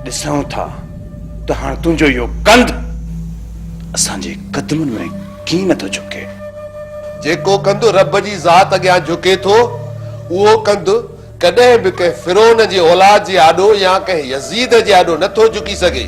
ڏسون ٿا ته هاڻ تنهنجو اهو ڪنڌ اسان جي قدمن ۾ ڪيئن نٿو جهڪي. جيڪو ڪنڌ رب جي ذات اڳيان جهڪي ٿو، اهو ڪنڌ ڪڏهن به ڪنهن فرعون جي اولاد جي آڏو يا ڪنهن يزيد جي آڏو نٿو جهڪي سگهي.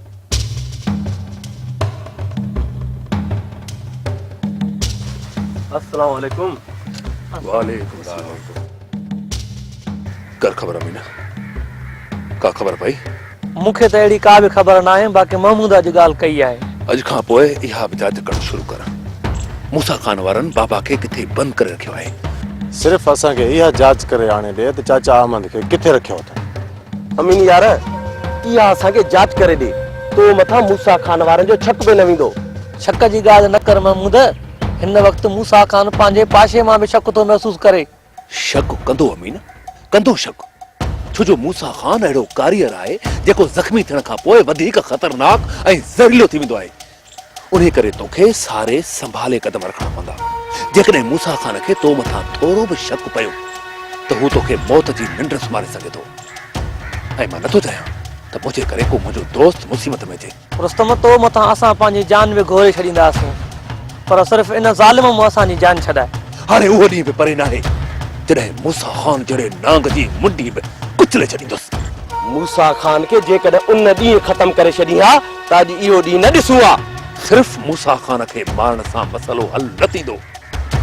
السلام عليڪم وعليڪم السلام ڪر خبر امينه ڪا خبر پئي مون کي ته اهڙي ڪا به خبر نه آهي باقي محمود اڄ ڳالهه ڪئي آهي اڄ کان پوء اها به جاچ ڪرڻ شروع ڪر موسا خان وارن بابا کي ڪٿي بند ڪري رکيو آهي صرف اسان کي اها جاچ ڪري آڻي ڏي ته چاچا احمد کي ڪٿي رکيو اٿن امين يار اها اسان کي جاچ ڪري ڏي تو مٿان موسيٰ خان وارن جو شڪ به نه ويندو. شڪ جي ڳالهه نه ڪر محمود، هن وقت موسيٰ خان پنهنجي پاشي مان به شڪ ٿو محسوس ڪري. شڪ ڪندو امين، ڪندو شڪ، ڇو جو موسيٰ خان اهڙو ڪاريئر آهي جيڪو زخمي ٿيڻ کان پوء وڌيڪ خطرناڪ ۽ زهريلو ٿي ويندو آهي. انهيء ڪري تو کي ساري سنڀالي قدم رکڻا پوندا. جيڪڏهن موسيٰ خان کي تو مٿان ٿورو به شڪ پيو ته هو تو کي موت جي ننڊ سمهاري سگهي ٿو ۽ مان نٿو چاهيان ته منهنجي ڪري ڪو منهنجو دوست مصيبت ۾ اچي. رستم، تو مٿان اسان پنهنجي جان به گهوري ڇڏينداسون، پر صرف ان ظالم مون اسان جي جان ڇڏاء. هاڻي اهو ڏينهن به پري ناهي، جڏهن موسيٰ خان جهڙي نانگ جي منڊي به ڪچلي ڇڏيندس. موسيٰ خان کي جيڪڏهن ان ڏينهن ختم ڪري ڇڏين ها، ته اڄ اهو ڏينهن نه ڏسون ها. صرف موسيٰ خان کي مارڻ سان مسئلو حل نه ٿيندو.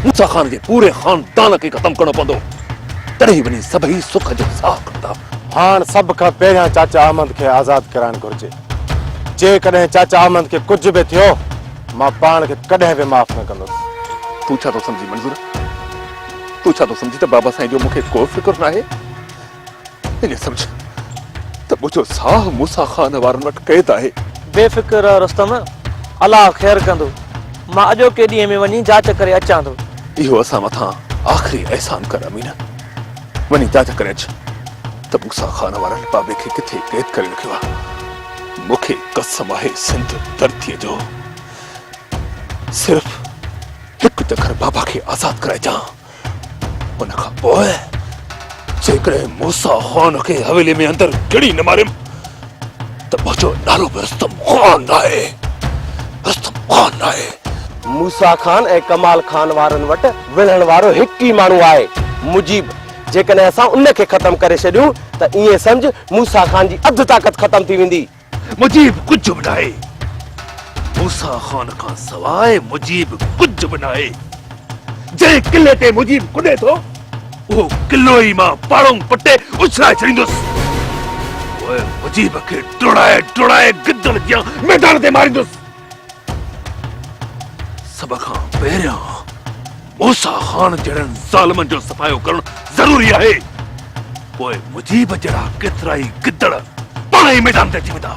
موسيٰ خان جي پوري خاندان کي ختم ڪرڻو پوندو. تڏهن وڃي سڀئي سک جو ساهه کڻندا. هاڻ سڀ کان پهريان چاچا احمد کي آزاد ڪرائڻ گهرجي. جيڪڏهن چاچا احمد کي ڪجهه به ٿيو، مان پاڻ کي ڪڏهن به معاف نه ڪندس. تون ڇا ٿو سمجهين منظور؟ تون ڇا ٿو سمجهين ته بابا سائين جو مون کي ڪو فڪر ناهي؟ انهيء سمجهه ته منهنجو ساهه موسيٰ خان وارن وٽ قيد آهي. بي فڪر رهه رستم، الله خير ڪندو. مان اڄوڪي ڏينهن ۾ وڃي جاچ ڪري اچان ٿو. اهو اسان مٿان آخري احسان ڪر امين. وڃي جاچ ڪري اچ ته موسيٰ خان وارن بابي کي ڪٿي قيد ڪري رکيو آهي. مون کي قسم آهي سنڌ ڌرتيء جو، صرف هڪ چڪر بابا کي آزاد ڪرائجان. ان کان پوء جيڪڏهن موسا خان کي حويلي ۾ اندر گهڙي نه ماريم ته منهنجو نالو به رستم خان آهي رستم خان آهي موسا خان ۽ ڪمال خان وارن وٽ وڙهڻ وارو هڪ ئي ماڻهو آهي مجيب جيڪڏهن اسان ان کي ختم ڪري ڇڏيون ته ائين سمجهه موسا خان جي اڌ طاقت ختم ٿي ويندي. مجيب ڪجهه به ناهي. موسيٰ خان کان سواء مجيب ڪجهه به ناهي. جنهن قلعي تي مجيب ڪڏي ٿو، اهو قلعو ئي مان پاڙونگ پٽي اڇلائي ڇڏيندس. پوء مجيب کي ڊوڙائي ڊوڙائي گدڙ جيان ميدان تي ماريندس. سڀ کان پهريان موسا خان جهڙن ظالمن جو صفايو ڪرڻ ضروري آهي پوء مجيب جهڙا ڪيترائي گدڙ پاڻ ئي ميدان تي اچي ويندا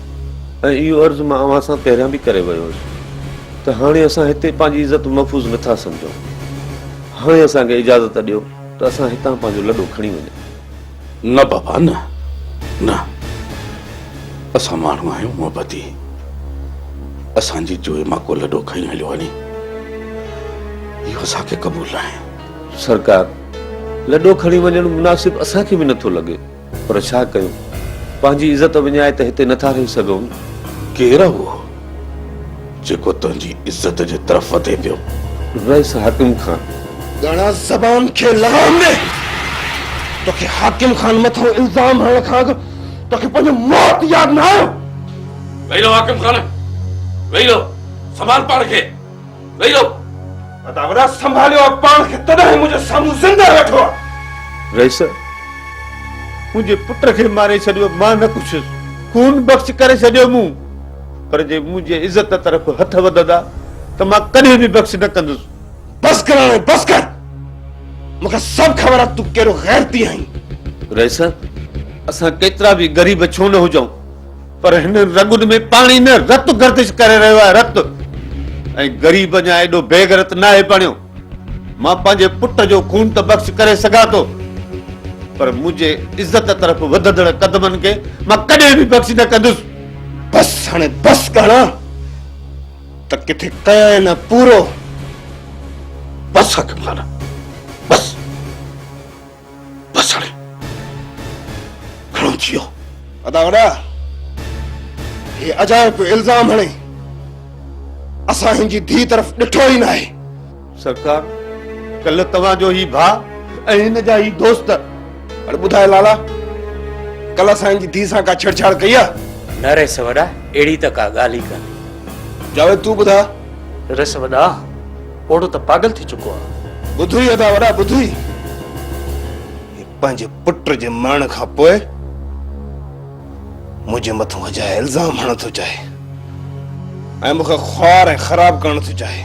۽ اهو عرض مان اوهان سان پهريان به ڪري ويو هوس ته هاڻي اسان هتي پنهنجي عزت محفوظ نه ٿا سمجهون. هاڻي اسان کي اجازت ڏيو ته اسان هتان پنهنجو لڏو کڻي وڃون. نه بابا نه. نه. اسان ماڻهو آهيون محبتي. اسان جي جوئي مان ڪو لڏو کڻي هليو وڃي، اهو اسان کي قبول ناهي. سرڪار، لڏو کڻي وڃڻ مناسب اسان کي به نه ٿو لڳي. پر ڇا ڪيون؟ پنهنجي عزت وڃائي ته هتي نٿا رهي سگهون. ڪير آ اهو جيڪو تنهنجي عزت جي طرف وڌي پيو؟ رئيس حاڪم خان. ڳڻا زبان کي لغام ڏي. توکي حاڪم خان مٿان الزام هڻڻ کان اڳ توکي پنهنجو موت ياد نه آيو؟ ويهي رهو حاڪم خان، ويهي رهو. سنڀال پاڻ کي. ويهي رهو اداورا سنڀاليو آهي پاڻ کي تڏهن هي منهنجي سامهون زنده ويٺو آهي. رئيس منهنجي پٽ کي ماري ڇڏيو مان نه پڇيس خون بخش ڪري ڇڏيو مون پر جي منهنجي عزت طرف هٿ وڌندا ته مان ڪڏهن به بخش نه ڪندس. بس ڪر هاڻي بس ڪر مون کي سڀ خبر آهي ته تون ڪهڙو غيرتي آهين. رئيس اسان ڪيترا به غريب ڇو نه هجون پر هن رڳن ۾ پاڻي نه رت گردش ڪري رهيو آهي رت ۽ غريب اڃا ايڏو بيغرت ناهي بڻيو مان پنهنجي پٽ جو خون ته بخش ڪري سگهان ٿو پر منهنجي عزت طرف وڌندڙ قدمن کي مان ڪڏهن به بخش نه ڪندس بس هاڻي بس ڪهڻا ته ڪٿي ڪيا نه پورو بس حڪمخانه بس هاڻي گهڻو ٿي ويو. ادا وڏا هي اجايو پيو الزام هڻي اسان هن جي ڌي طرف ڏٺو ئي ناهي. سرڪار ڪلهه توهان جو هي ڀاء ۽ هن جا هي دوست. هاڻي ٻڌاء لالا ڪلهه اسان هن جي ڌي سان ڪا ڇيڙڇاڙ ڪئي آ؟ نه رئيس وڏا اهڙي ته ڪا ڳالهه ئي ڪانهي. جاويد تون ٻڌاء. رئيس وڏا. پوڙهو ته پاڳل ٿي چڪو آ. ٻڌوئي ادا وڏا ٻڌوئي هي پنهنجي پٽ جي مرڻ کان پوء منهنجي مٿو اجايا الزام هڻڻ ٿو چاهي ۽ مون کي خوار ۽ خراب ڪرڻ ٿو چاهي.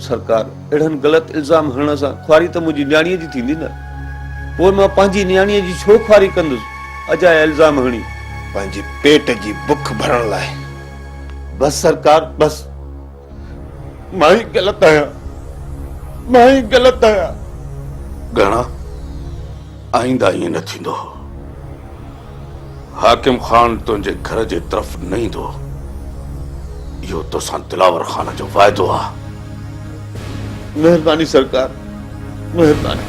سرڪار اهڙن غلط الزام هڻڻ سان خواري ته منهنجي نياڻيء جي ٿيندي نه پوء مان پنهنجي نياڻيء جي ڇو خواري ڪندس اجايا الزام هڻي. پنهنجي پيٽ جي بک ڀرڻ لاء. بس سرڪار بس. مان ئي غلط آهيان مان ئي غلط آهيان. گهڻا آئنده ائين نه ٿيندو حاڪم خان تنهنجي گهر جي طرف نه ايندو اهو توسان دلاور خان جو واعدو آهي. مهرباني سرڪار مهرباني.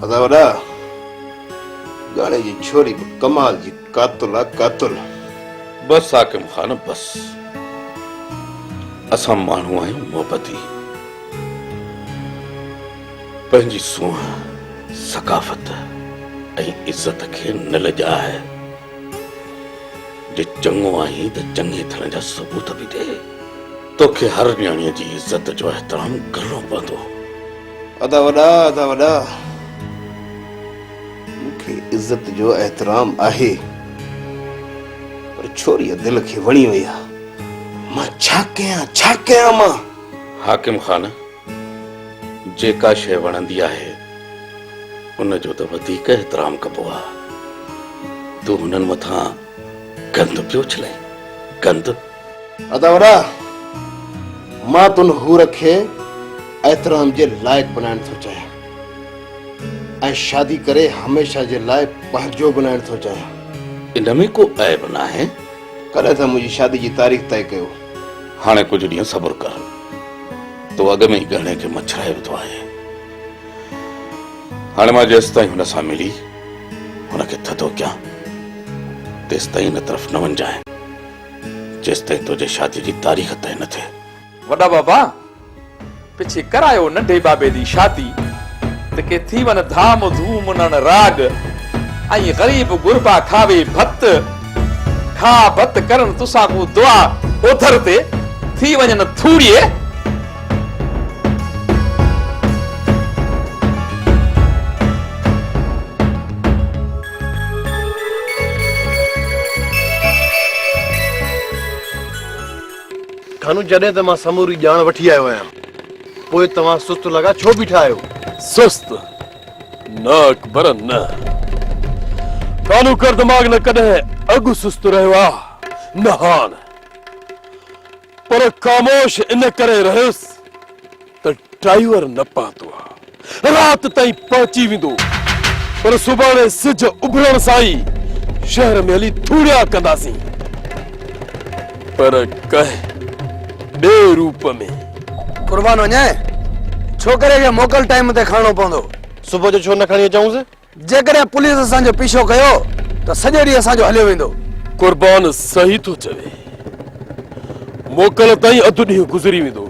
ادا وڏا ڳاڙهي جي ڇوري به ڪمال جي قاتل آ قاتل. بس حاڪم خان بس اسان ماڻهو آهيون محبتي. پنهنجي سونهن، ثقافت ۽ عزت کي نه لڄاء. جي چڱو آهين ته چڱي ٿيڻ جا ثبوت به ڏي. توکي هر نياڻيء جي عزت جو احترام ڪرڻو پوندو. ادا وڏا، ادا وڏا، مون کي عزت جو احترام آهي، پر ڇوريء دل کي وڻي وئي آهي. مان ڇا ڪيان، ڇا ڪيان مان؟ حاڪم خان! جيڪا شيء وڻندي آهي ان جو ته وڌيڪ احترام ڪبو آ. تون هنن مٿان گند پيو اڇلين، گند! ادا وڏا، مان تون حور کي احترام جي لائق بنائڻ ٿو چاهيان ۽ شادي ڪري هميشه جي لاء پنهنجو بنائڻ ٿو چاهيان. ان ۾ ڪو عيب ناهي. ڪڏهن ٿا منهنجي شادي جي تاريخ طئي ڪيو؟ هاڻي ڪجهه ڏينهن صبر ڪر. تو اڳ ۾ ئي ڳهڻي کي مڇرائي وڌو آهي. هاڻي مان جيستائين هن سان ملي هن کي ٿڌو ڪيان تيستائين هن طرف نه وڃجانء جيستائين تنهنجي شادي جي تاريخ طئي نه ٿئي. وڏا بابا پڇي ڪرايو ننڍي بابي جي شادي ته ڪي ٿي ون ڌام ڌوم نڻ راڳ ۽ غريب غربا کاوي ڀت کاء ڀت ڪرن تسان ڪون دعا اوڌر تي ٿي وڃن ٿوڙيي ڪانو، جڏهن ته مان سموري ڄاڻ وٺي آيو آهيان، پوء توهان سست لڳا ڇو بيٺا آهيو؟ سست؟ نه اڪبر نه. ڪانو ڪر دماغ نه ڪڏهن اڳ سست رهيو آ، نه هاڻ. پر خاموش ان ڪري رهيس. ته ڊرائيور نه پهتو آ رات تائين پهچي ويندو پر سڀاڻي سج اڀرڻ سان ئي شهر ۾ هلي ٿوڙيا ڪنداسين پر ڪنهن ٻئي روپ ۾. قربان وڃين ڇوڪري کي موڪل ٽائيم تي کڻڻو پوندو. صبح جو ڇو نه کڻي اچئونس. جيڪڏهن پوليس اسان جو پيڇو ڪيو ته سڄو ڏينهن اسان جو هليو ويندو. قربان صحيح ٿو چوي. موڪل تائين اڌ ڏينهن گذري ويندو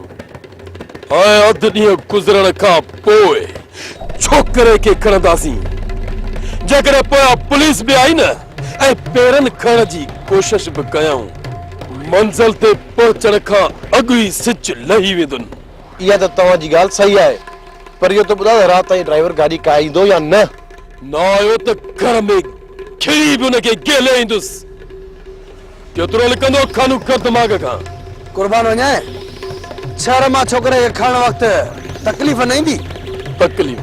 ۽ اڌ ڏينهن گذرڻ کان پوء ڇوڪري کي کڻنداسين. جيڪڏهن پويان پوليس به آئي نه ۽ پيرن کڻڻ جي ڪوشش به ڪيائون. منزل تي پهچڻ کان اڳ ئي سج لهي ويندن. اها ته توهان جي ڳالهه صحيح آهي پر اهو ته ٻڌاء ته رات تائين ڊرائيور گاڏي ڪاهيندو يا نه؟ نه آيو ته گهر ۾ کڙي به ان کي گهلي ايندس. ڪيترو لڪندو خانو ڪر دماغ کان. قربان وڃان شهر مان ڇوڪري کي کڻڻ وقت تڪليف نه ايندي؟ تڪليف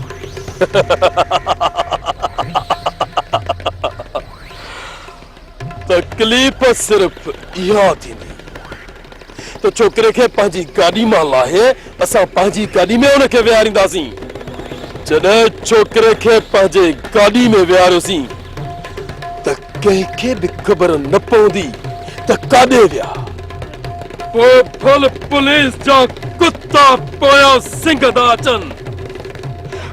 تڪليف صرف اها ٿيندي ته ڇوڪري کي پنهنجي گاڏي مان لاهي اسان پنهنجي گاڏي ۾ ان کي ويهارينداسين. جڏهن ڇوڪري کي پنهنجي گاڏي ۾ ويهاريوسين ته ڪنهن کي به خبر نه پوندي ته ڪاڏي ويا. پوء ڦل پوليس جا ڪتا پويان سنگهه ٿا اچن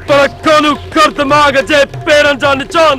پر ڪانو خردماغ جي پيرن جا نشان.